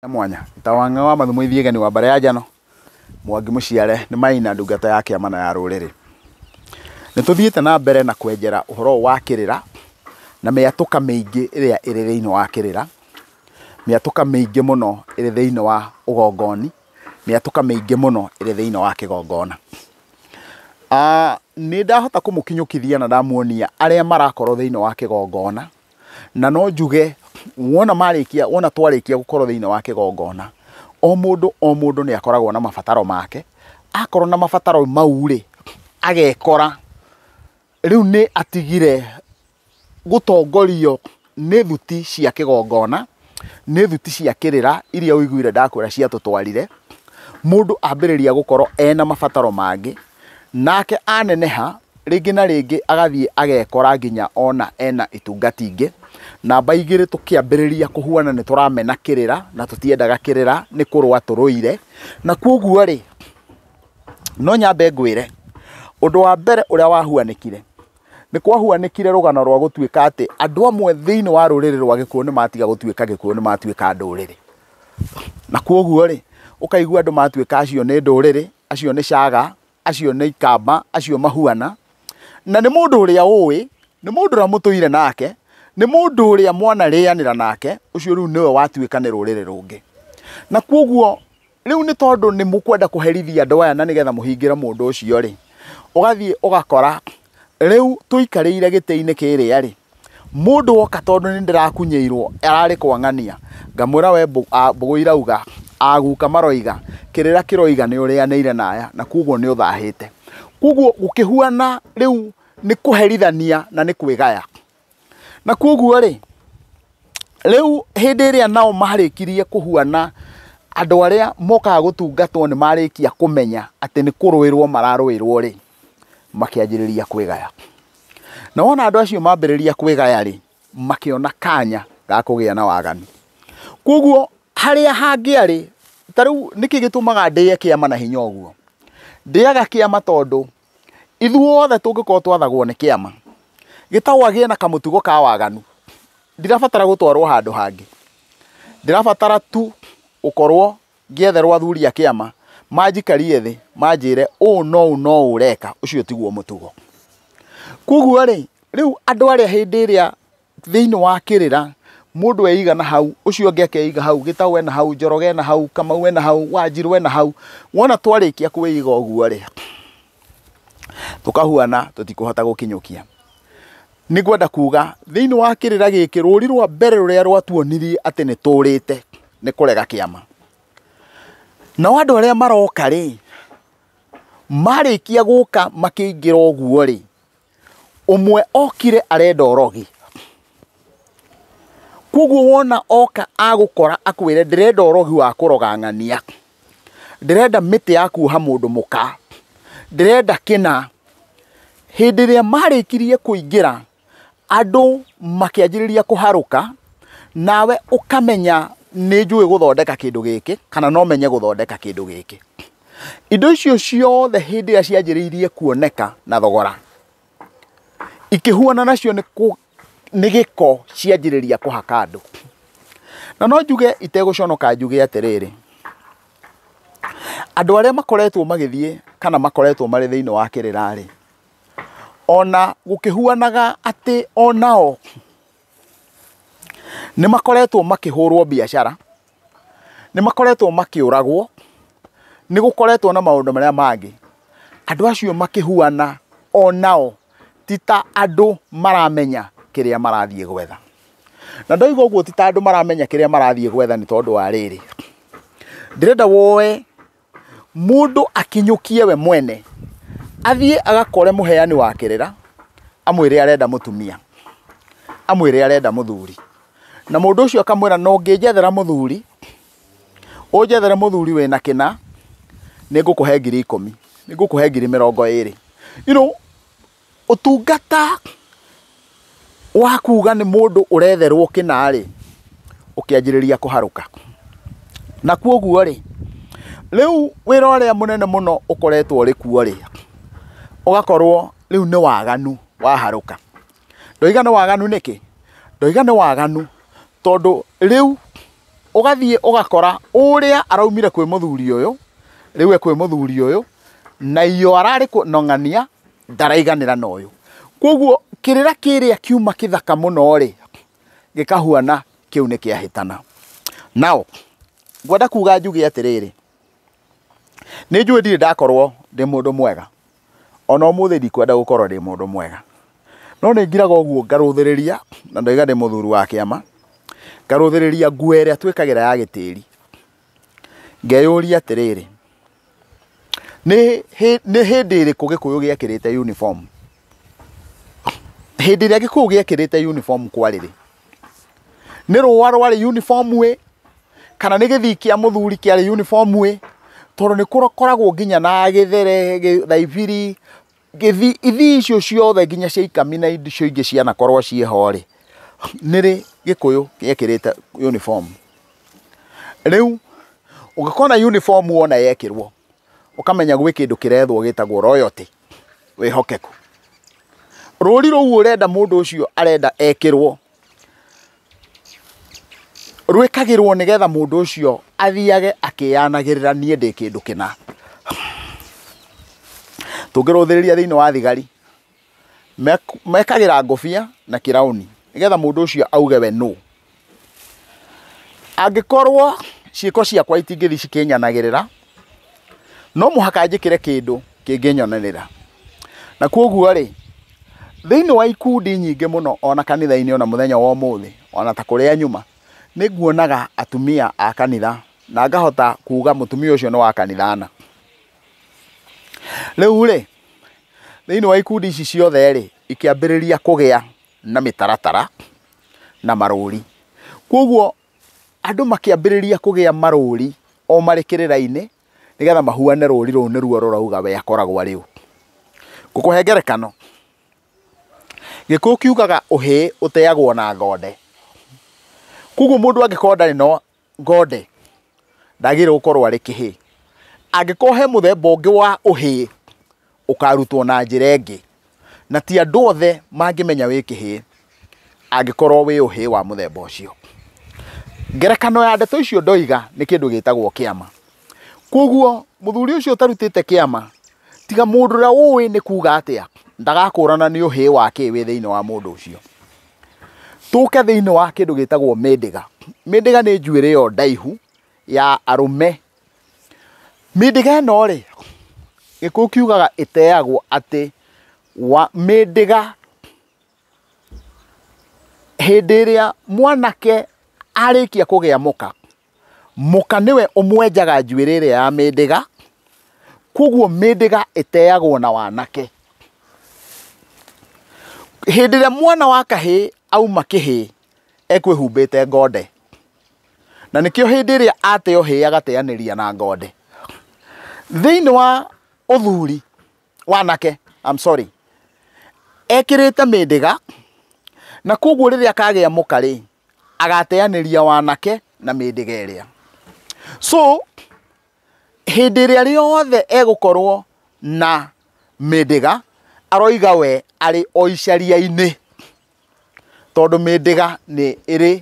ya mwanya ta wang'a wa mathumo ithiegani wa mbare ya njano mwangi mũciare nĩ maina ndungata ya kĩama na ya rũrĩrĩ nĩ tũthiĩte na mbere na kwenjera ũhoro wa kĩrĩra na mĩatũka mĩingĩ ĩrĩa ĩrĩ thĩinĩ wa kĩrĩra mĩatũka mĩingĩ mũno ĩrĩ thĩinĩ wa ũgongoni mĩatũka mĩingĩ mũno ĩrĩ thĩinĩ wa kĩgongona Ah, nĩ ndahota kũmũkinyũkithia na ndamuonia arĩa marakorwo thĩinĩ wa kĩgongona Na no njuge wona marĩkia wona twarĩkia gũkorwo thĩinĩ wa kĩgongona o mũndũ o mũndũ nĩ akoragwo na mabataro make akorwo na mabataro mau rĩ agekora rĩu nĩ atigire gũtongorio nĩ thuti cia kĩgongona. nĩ thuti cia kĩrĩra iria ũiguire ndakwĩra ciatũtwarire, mũndũ ambĩrĩria gũkorwo ena mabataro mangĩ, nake aneneha rĩngĩ na rĩngĩ agathiĩ agekora nginya ona ena itungati ingĩ. Namba igĩrĩ tũkĩambĩrĩria kũhuana nĩ tũramena kĩrĩra na tũtiendaga kĩrĩra nĩ kũrũa tũrũire. Na kwoguo rĩ, no nyambe ngwĩre, ũndũ wa mbere ũrĩa wahuanĩkire, Nĩ kwahuanĩkire rũgano rwa gũtuĩka atĩ andũ amwe thĩinĩ wa rũrĩrĩ rwa gĩkuũ nĩ matiga gũtuĩka gĩkuũ nĩ matuĩka ndũrĩrĩ. Na kwoguo rĩ, ũkaigua andũ matuĩka acio nĩ ndũrĩrĩ, acio nĩ caga, acio nĩ ikamba, acio mahuana. Na nĩ mũndũ ũrĩa ũĩ, nĩ mũndũ ũrĩa mũtũire nake, nĩ mũndũ ũrĩa mwanarĩanĩra nake, ũcio rĩu nĩwe watuĩka nĩ rũrĩrĩ rũngĩ. Na kwoguo Rĩu nĩ tondũ nĩ mũkwenda kũherithia andũ aya na nĩgetha mũhingĩre mũndũ ũcio rĩ, ũgathiĩ ũgakora rĩu tũikarĩire gĩtĩ-inĩ kĩrĩa rĩ, mũndũ woka tondũ nĩ ndĩrakunyĩirwo ararĩ kwang'ania, ngamwĩra we mbũgũ irauga, aguka maroiga, kĩrĩra kĩroiga nĩ ũrĩanĩire na aya na koguo nĩ ũthahĩte. Koguo gũkĩhuana rĩu nĩ kũherithania na nĩ kwĩgaya. Na kwoguo rĩ, rĩu hĩndĩ ĩrĩa nao marĩkirie kũhuana andũ arĩa mokaga gũtungatwo nĩ marĩkia kũmenya atĩ nĩ kũrũĩrwo mararũĩrwo rĩ, makĩanjĩrĩria kwĩgaya. Na wona andũ acio mambĩrĩria kwĩgaya rĩ, makĩona kanya ga kũgĩa na waganu. Kwoguo harĩa hangĩarĩ, ta rĩu nĩkĩ gĩtũmaga ndĩe kĩama na hinya ũguo? Ndĩaga kĩama tondũ Ithuothe tũngĩkorwo twathagwo nĩ kĩama, gĩtagwo agĩe na kamũtugo ka waganu, ndirabatara gũtwarwo handũ hangĩ, ndĩrabatara tu gũkorwo ngĩetherwo athuri a kĩama manjikarie thĩ manjĩre ũũ na ũũ na ũũ ũreka ũcio tiguo mũtugo. Koguo-rĩ, rĩu andũ arĩa hĩndĩ ĩrĩa thĩinĩ wa kĩrĩra mũndũ eiga na hau ũcio ũngĩ akeiga hau gĩtaũ ena hau njoroge ena hau kamau ena hau wanjirũ ena hau wona twarĩkia kwĩiga ũguo rĩ tũkahuana tũtikũhota gũkinyũkia nĩ kwenda kuga thĩinĩ wa kĩrĩra gĩkĩ rũri rwa mbere rũrĩa rwatuonirie atĩ nĩ tũrĩte nĩ kũrega kĩama nao andũ arĩa maroka rĩ marĩkia gũka makĩingĩra ũguo rĩ ũmwe okire arenda ũrogi koguo wona oka agũkora akwĩre ndĩrenda ũrogi wa kũroga ng'ania ndĩrenda mĩtĩ ya kuoha mũndũ mũka ndĩrenda kĩna hĩndĩ ĩrĩa marĩkirie kũingĩra andũ makĩanjĩrĩria kũharũka nawe ũkamenya nĩ njũĩ gũthondeka kĩndũ gĩkĩ kana no menye gũthondeka kĩndũ gĩkĩ. Indo icio ciothe hĩndĩ ĩrĩa cianjĩrĩirie kuoneka na thogora, ikĩhuana nacio nĩ kũ- nĩ gĩko cianjĩrĩria kũhaka andũ. Na no njuge itegũconoka njuge atĩrĩrĩ, andũ arĩa makoretwo magĩthiĩ kana makoretwo marĩ thĩinĩ wa kĩrĩra-rĩ, ona gũkĩhuanaga atĩ onao nĩ makoretwo makĩhũrwo biacara, nĩ makoretwo makĩũragwo, nĩ gũkoretwo na maũndũ marĩa mangĩ, andũ acio makĩhuana o nao ti ta andũ maramenya kĩrĩa marathiĩ gwetha. Na ndoiga ũguo ti ta andũ maramenya kĩrĩa marathiĩ gwetha nĩ tondũ wa rĩrĩ, ndĩrenda woe Mũndũ akinyũkie we mwene, athiĩ agakore mũheani wa kĩrĩra, amwĩre arenda mũtumia, amwĩre arenda mũthuri. Na mũndũ ũcio akamwĩra no ngĩnjethera mũthuri, ũnjethere mũthuri wĩna kĩna, nĩ ngũkũhe ngiri ikũmi, nĩ ngũkũhe ngiri mĩrongo ĩrĩ. You know, Ũtungata wa kuga nĩ mũndũ ũretherwo kĩna-rĩ, ũkĩanjĩrĩria kũharũka. Na kuoguo-rĩ, rĩu wĩra ũrĩa mũnene mũno ũkoretwo ũrĩ kuo-rĩ, ũgakorwo rĩu nĩ waganu waharũka. Ndoiga nĩ waganu nĩkĩ? Ndoiga nĩ waganu tondũ rĩu ũgathiĩ ũgakora ũrĩa araumire kwĩ mũthuri ũyũ, rĩu e kwĩ mũthuri ũyũ, na iyo ararĩ kũng'ang'ania ndaraiganĩra na ũyũ. Koguo kĩrĩra kĩrĩa kiuma kĩthaka mũno-rĩ, gĩkahuana kĩu nĩ kĩahĩtana. Nao, ngwenda kuga njuge atĩrĩrĩ, nĩ njũĩ ndirĩ ndakorwo ndĩ mũndũ mwega, ona ũmũthĩ ndikwenda gũkorwo ndĩ mũndũ mwega, no nĩ ngiraga ũguo ngarũthĩrĩria, na ndoiga ndĩ mũthuri wa kĩama, ngarũthĩrĩria nguo ĩrĩa twĩkagĩra ya gĩtĩri, ngeyũria atĩrĩrĩ, nĩ hĩndĩ ĩrĩkũ gĩkũyũ gĩekĩrĩte uniform hĩndĩ ĩrĩa gĩkũyũ gĩekĩrĩte uniform kwarĩrĩ nĩ rũa rwarĩ uniform ĩ kana nĩ gĩthii kĩa mũthuri kĩarĩ uniform ĩ tondũ nĩ kũkoragwo nginya na gĩthere, thaibiri. Ngĩthi, ithii icio ciothe nginya cia ikami na icio ingĩ cianakorwo ciĩ ho-rĩ, nĩrĩ Gĩkũyũ gĩekĩrĩte uniform? Rĩu ũngĩkona uniform wona yekĩrwo, ũkamenya gwĩ kĩndũ kĩrethwo gĩtagwo loyalty, wĩhokeku. Rũri rũu ũrenda mũndũ ũcio arenda ekĩrwo rwĩkagĩrwo nĩgetha mũndũ ũcio athiage akĩyanagĩrĩra niĩ ndĩ kĩndũ kĩna. Tũngĩrũthĩrĩria thĩinĩ wa thigari, mekagĩra ngũbia na kĩraũni nĩgetha mũndũ ũcio auge we nũ. Angĩkorwo ciĩko ciakwa itingĩthiĩ cikĩnyanagĩrĩra no mũhaka njĩkĩre kĩndũ kĩngĩnyonanĩra. Na koguo rĩ, thĩinĩ wa ikundi nyingĩ mũno ona kanitha-inĩ ona mũthenya wa ũmũthĩ, ona ta kũrĩa nyuma, nĩ nguonaga atumia a kanitha na ngahota kuga mũtumia ũcio nĩ wa kanitha ana. Rĩu rĩ, thĩinĩ wa ikundi ici ciothe rĩ, ikĩambĩrĩria kũgĩa na mĩtaratara na marũri. Koguo Andũ makĩambĩrĩria kũgĩa marũũri o marĩ kĩrĩra-inĩ nĩgetha mahuane rũũri rũu nĩruo rũrauga we akoragwo arĩ ũ. Ngũkũhe ngerekano, Gĩkũyũ kiugaga ũhĩĩ ũteagwo na ngonde. Kwoguo mũndũ angĩkorwo ndarĩ na ngonde, ndagĩrĩirwo gũkorwo arĩ kĩhĩĩ. Angĩkorwo he mũthemba ũngĩ wa ũhĩĩ ũkarutwo na njĩra ĩngĩ na ti andũ othe mangĩmenya wĩ kĩhĩĩ angĩkorwo wĩ ũhĩĩ wa mũthemba ũcio ngerekano ya ndeto icio ndoiga nĩ kĩndũ gĩtagwo kĩama kwoguo mũthuri ũcio ũtarutĩte kĩama tiga mũndũ ũrĩa ũĩ nĩ kuga atĩa ndagakũrana nĩ ũhĩĩ wa kĩ wĩ thĩinĩ wa mũndũ ũcio tũke thĩinĩ wa kĩndũ gĩtagwo mĩndĩga mĩndĩga nĩ njuĩrĩ ĩyo ndaihu ya arũme Mĩndĩga ĩno rĩ, gĩkũyũ kiugaga ĩteagwo atĩ mĩndĩga hĩndĩ ĩrĩa mwanake arĩkia kũgĩa mũka, mũka nĩwe ũmwenjaga njuĩrĩ ĩrĩa ya mĩndĩga, koguo mĩndĩga ĩteagwo na wanake. Hĩndĩ ĩrĩa mwana wa kahĩĩ auma kĩhĩĩ ekwĩhumbĩte ngonde, na nĩkĩo hĩndĩ ĩrĩa ateo hĩĩ agateanĩria na ngonde thĩinĩ wa ũthuri wanake I'm sorry ekĩrĩte mĩndĩga na koguo rĩrĩa akagĩa mũka rĩ agateanĩria wanake na mĩndĩga ĩrĩa so hĩndĩ ĩrĩa rĩothe egũkorwo na mĩndĩga aroiga we arĩ o icaria-inĩ tondũ mĩndĩga nĩ ĩrĩ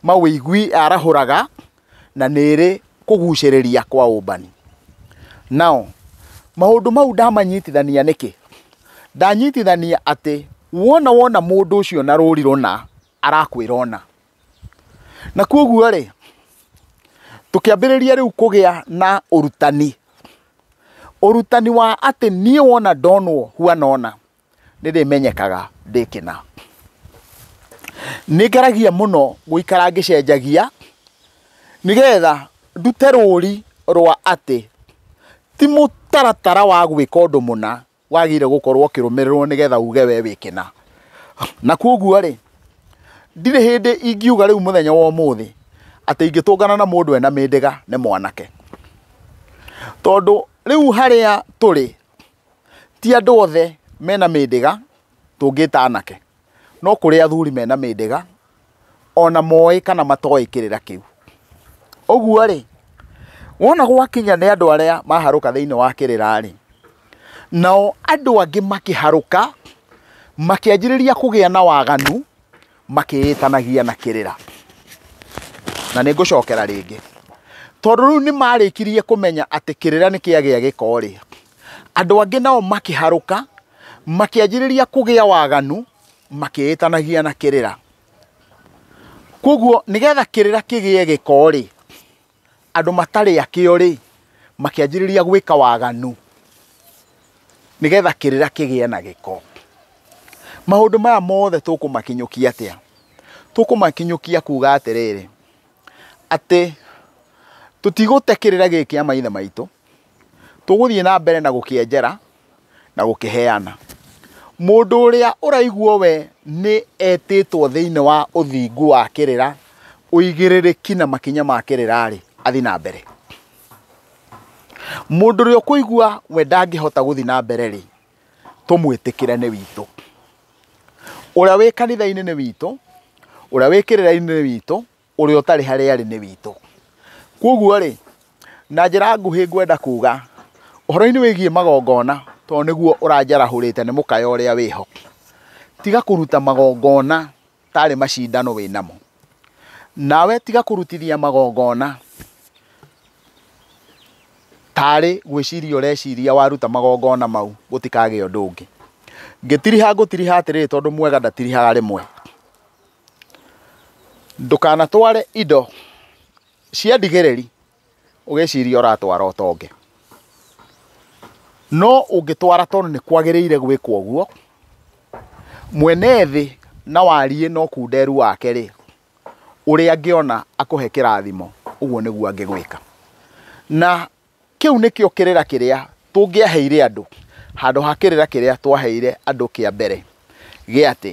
mawĩigwi yarahũraga na nĩ ĩrĩ kũgucĩrĩria kwa ũmbani. Now maũndũ mau ndamanyitithania nĩkĩ? Ndanyitithania atĩ wona wona mũndũ ũcio na rũri rũna arakwĩra ũna. Na kwoguo rĩ, tũkĩambĩrĩria rĩu kũgĩa na ũrutani, ũrutani wa atĩ niĩ wona ndonwo huana ũna, nĩ ndĩmenyekaga ndĩ kĩna. Nĩ ngeragia mũno gũikara ngĩcenjagia nĩgetha ndute rũri rwa atĩ ti mũtaratara wa gwĩka ũndũ mũna wagĩrĩire gũkorwo ũkĩrũmĩrĩrwo nĩgetha uge we wĩ kĩna. Na kwoguo rĩ, ndirĩ hĩndĩ ingiuga rĩu mũthenya wa ũmũthĩ atĩ ingĩtũngana na mũndũ ena mĩndĩga nĩ mwanake. Tondũ rĩu harĩa tũrĩ Ti andũ othe mena mĩndĩga tũngĩta anake, no kũrĩ athuri mena mĩndĩga ona moĩ kana matoĩ kĩrĩra kĩu. Ũguo rĩ, wona gwakinya nĩ andũ arĩa maharũka thĩinĩ wa kĩrĩra rĩ, nao andũ angĩ makĩharũka makĩanjĩrĩria kũgĩa na waganu. makĩĩtanagia na kĩrĩra na nĩ ngũcokera rĩngĩ tondũ rĩu nĩ marĩkirie kũmenya atĩ kĩrĩra nĩ kĩagĩa gĩkorĩ andũ angĩ nao makĩharũka makĩanjĩrĩria kũgĩa waganu makĩĩtanagia na kĩrĩra. Koguo nĩgetha kĩrĩra kĩgĩe gĩkorĩ andũ matarĩ akĩo-rĩ, makĩanjĩrĩria gwĩka waganu nĩgetha kĩrĩra kĩgĩe na gĩko. Maũndũ maya mothe tũkũmakinyũkia atĩa? Tũkũmakinyũkia kuuga atĩrĩrĩ, atĩ tũtigũte kĩrĩra gĩkĩ kĩa maithe maitũ, Tũgũthiĩ na mbere na gũkĩenjera na gũkĩheana. Mũndũ ũrĩa ũraiguo we nĩ etĩtwo thĩinĩ wa ũthingu wa kĩrĩra, ũigĩrĩrĩki na makinya ma kĩrĩra-rĩ, athiĩ na mbere. Mũndũ ũrĩa ũkũigua we ndangĩhota gũthiĩ na mbere-rĩ, tũmwĩtĩkĩre nĩ witũ. Ũrĩa wĩ kanitha-inĩ nĩ witũ, ũrĩa wĩ kĩrĩra-inĩ nĩ witũ. ũrĩa ũtarĩ harĩa arĩ nĩ witũ kwoguo rĩ na njĩra nguhĩ ngwenda kuga ũhoro-inĩ wĩgiĩ magongona tondũ nĩguo ũranjarahũrĩte nĩ mũkaya ũrĩa wĩho tiga kũruta magongona tarĩ macindano wĩ namo nawe tiga kũrutithia magongona tarĩ gwĩciria ũreciria waruta magongona mau gũtikagĩa ũndũ ũngĩ ngĩtiriha ngũtiriha atĩrĩrĩ tondũ mwega ndatirihaga rĩmwe Ndũkanatware indo cia ndigĩrĩri ũgĩciria ũratwara ũtonge. No ũngĩtwara tondũ nĩ kwagĩrĩire gwĩkwo ũguo, mwene thĩ na wariĩ na ũkunderu wake rĩ, ũrĩa angĩona akũhe kĩrathimo ũguo nĩguo angĩgwĩka. Na kĩu nĩkĩo kĩrĩra kĩrĩa tũngĩaheire andũ handũ ha kĩrĩra kĩrĩa twaheire andũ kĩa mbere gĩa atĩ...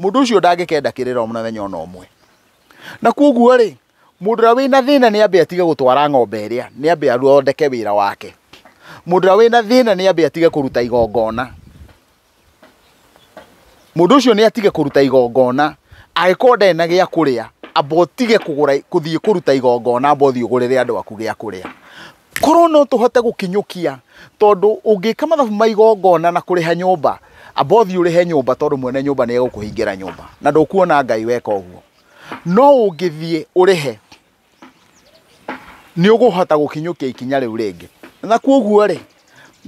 Mũndũ ũcio ndangĩkenda kĩrĩra mũthenya o na ũmwe. Na kwoguo-rĩ, mũndũ ũrĩa wĩna thĩna nĩ ambe atige gũtwara ng'ombe ĩrĩa, nĩ ambe athondeke wĩra wake. Mũndũ ũrĩa wĩna thĩna nĩ ambe atige kũruta igongona. Mũndũ ũcio nĩ atige kũruta igongona, angĩkorwo ndarĩ na gĩa kũrĩa, amba ũtige kũgũra, gũthiĩ kũruta igongona, amba ũthiĩ ũgũrĩre andũ aku gĩa kũrĩa. korwo no tũhote gũkinyũkia tondũ ũngĩka mathabu ma igongona na kũrĩha nyũmba amba ũthiĩ ũrĩhe nyũmba tondũ mwene nyũmba nĩ egũkũhingĩra nyũmba na ndũkuona ngai weka ũguo no ũngĩthiĩ ũrĩhe nĩ ũgũhota gũkinyũkia ikinya rĩu rĩngĩ na kuoguo rĩ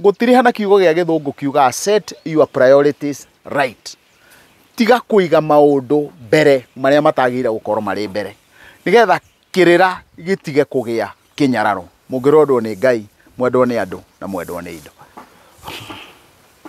gũtirĩ hana kiugo gĩa gĩthũngũ kiugaga set your priorities right tiga kũiga maũndũ mbere marĩa matagĩrĩire gũkorwo marĩ mbere nĩgetha kĩrĩra gĩtige kũgĩa kĩnyararo. Mũngĩrwendwo nĩ Ngai, mwendwo nĩ andũ, na mwendwo nĩ indo.